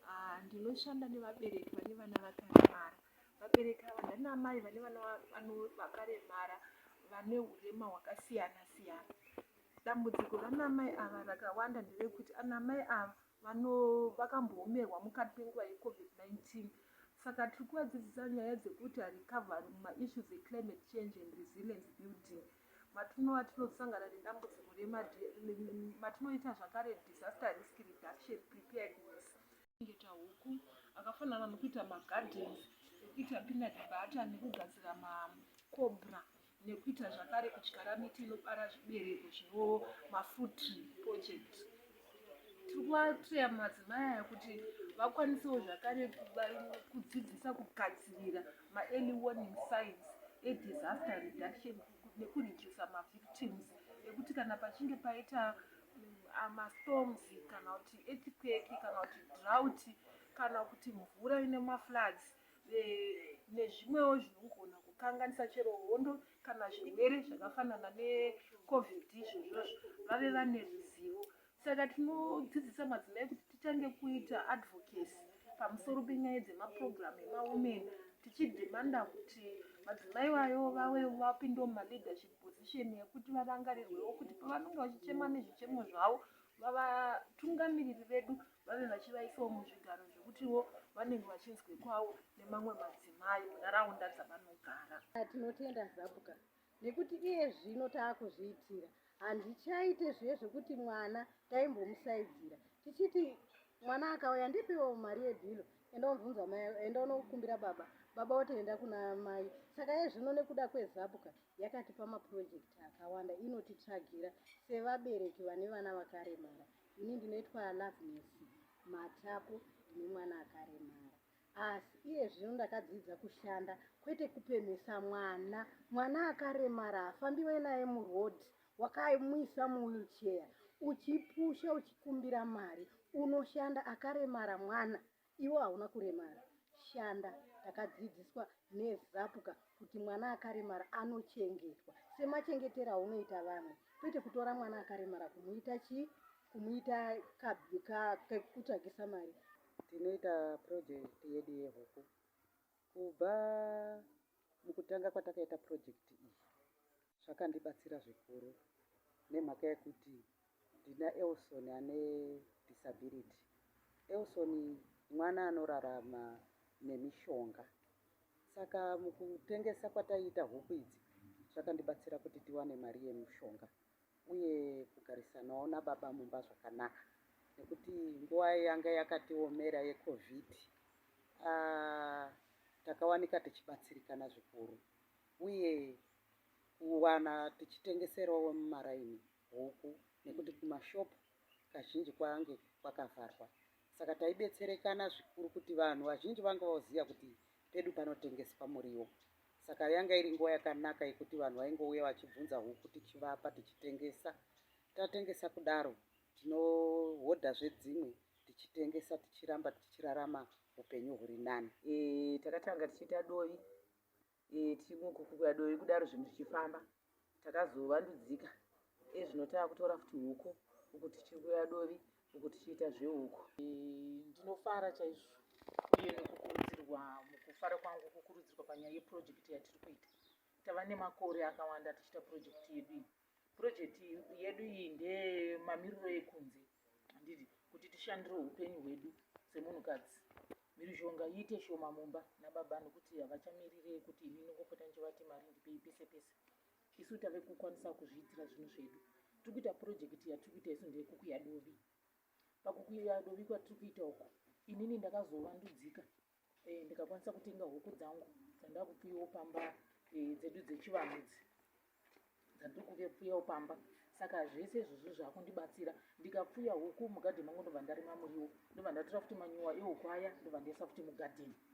Ah, ndinoshanda nevabereki vane vana vakaremara vabereki ava ndana amai vane vana vakaremara vane urema hwakasiyana siyana dambudziko rana amai ava rakawanda nderekuti ana amai ava vakamboomerwa mukati penguva yecovid-19 saka tiri kuvadzidzisa nyaya dzekuti harikavhari mumaissues eclimate change and resilience building matinova tinosangana nedambudziko rematinoita zvakare disaster risk reduction preparedness kuchengeta huku akafanana nokuita magardens ekuita peanut butter nekugadzira macobra nekuita zvakare kudyara miti inobara zvibereko zvino mafruit project tiri kuvatreya madzimai aya kuti vakwanisewo zvakare kudzidzisa kugadzirira maearly warning signs edisaster reduction nekuredusa mavictims ekuti kana pachinge paita mm, mastorms kana kuti etiqueki kana kuti drought kana kuti mvura ine mafloods nezvimwewo zvinogona kukanganisa chero hondo kana zvirwere zvakafanana necovid izvozvozvo vave vane ruzivo saka tinodzidzisa madzimai kuti titange kuita advocacy pamusoro penyaya dzemaprogramu emawomen tichidhimanda kuti madzimai vayo vave vapinde mumaleadership position yekuti varangarirwewo kuti pavanenge vachichema nezvichemo zvavo vavatungamiriri vedu vave vachivaisawo muzvigaro zvekutiwo vanenge vachinzwekwawo nemamwe madzimai munharaunda dzavanogara tinotenda zabuka nekuti iye zvino taakuzviitira handichaite zviye zvekuti mwana taimbomusaidzira tichiti mwana akauya ndipiwo mari yebhilo enda unobvunza mai enda unokumbira baba baba otoenda kuna mai saka iye zvino nekuda kwezabuka yakatipa mapurojekiti akawanda inotitsvagira sevabereki vane vana vakaremara ini ndinoitwa loveness matapo ndine mwana akaremara asi iye zvino ndakadzidza kushanda kwete kupemhesa mwana mwana akaremara hafambiwe naye muroad wakamuisa muwheelchair uchipusha uchikumbira mari unoshanda akaremara mwana Iwe hauna kuremara shanda takadzidziswa nezapuka kuti mwana akaremara anochengetwa semachengetero aunoita vamwe kwete kutora mwana akaremara kumuita chii kumuita kutsvagisa mari tinoita project yedu yehuku kubva mukutanga kwatakaita project iyi zvakandibatsira zvikuru nemhaka yekuti ndina elson ane disability elson mwana anorarama nemishonga saka mukutengesa kwataiita huku idzi zvakandibatsira kuti tiwane mari yemushonga uye kugarisanawo nababa mumba zvakanaka nekuti nguva yanga yakatiomera yecovid ah, takawanika tichibatsirikana zvikuru uye kuwana tichitengeserawo vemumaraini huku nekuti kumashopu kazhinji kwange kwakavharwa saka taibetserekana zvikuru kuti vanhu vazhinji vanga vaoziva kuti pedu panotengeswa muriwo saka yanga iri nguva yakanaka yekuti vanhu vaingouya vachibvunza huku tichivapa tichitengesa tatengesa kudaro tinohodha zvedzimwe tichitengesa tichiramba tichirarama upenyu huri nani e, takatanga tichiita dovi e, timukukuya dovi kudaro zvinhu zvichifamba takazovandudzika ezvino tava kutora futi huku uku tichikuya dovi uku tichiita zvehuku e, ndinofara chaizvo uye nekukurudzirwa mukufara kwangu kukurudzirwa panyaya yeprojekti yatiri kuita tava nemakore akawanda tichiita projekti yedu iyi Project yedu iyi ndeyemamiriro ekunze handidi kuti tishandire upenyu hwedu semunhukadzi mhirizhonga iite shoma mumba nababa nokuti havachamirire kuti ini ndingopota ndichivati mari ndipei pese pese isu tave kukwanisa kuzviitira zvinhu zvedu tiri kuita purojekiti yatiri kuita isu ndeyekukuya dovi pakukuya dovi kwatiri kuita uku inini ndakazovandudzika eh, ndikakwanisa kutenga huku dzangu dzandakupiwo pamba eh, dzedu dzechivanhu dzi dzandiri kuvepfuyawo pamba saka zvese izvozvo zvakundibatsira ndikapfuya huku mugadheni mangu ndobva ndarima muriwo ndobva ndatora futi manyuwa ehuku aya ndobva ndaisa futi mugadheni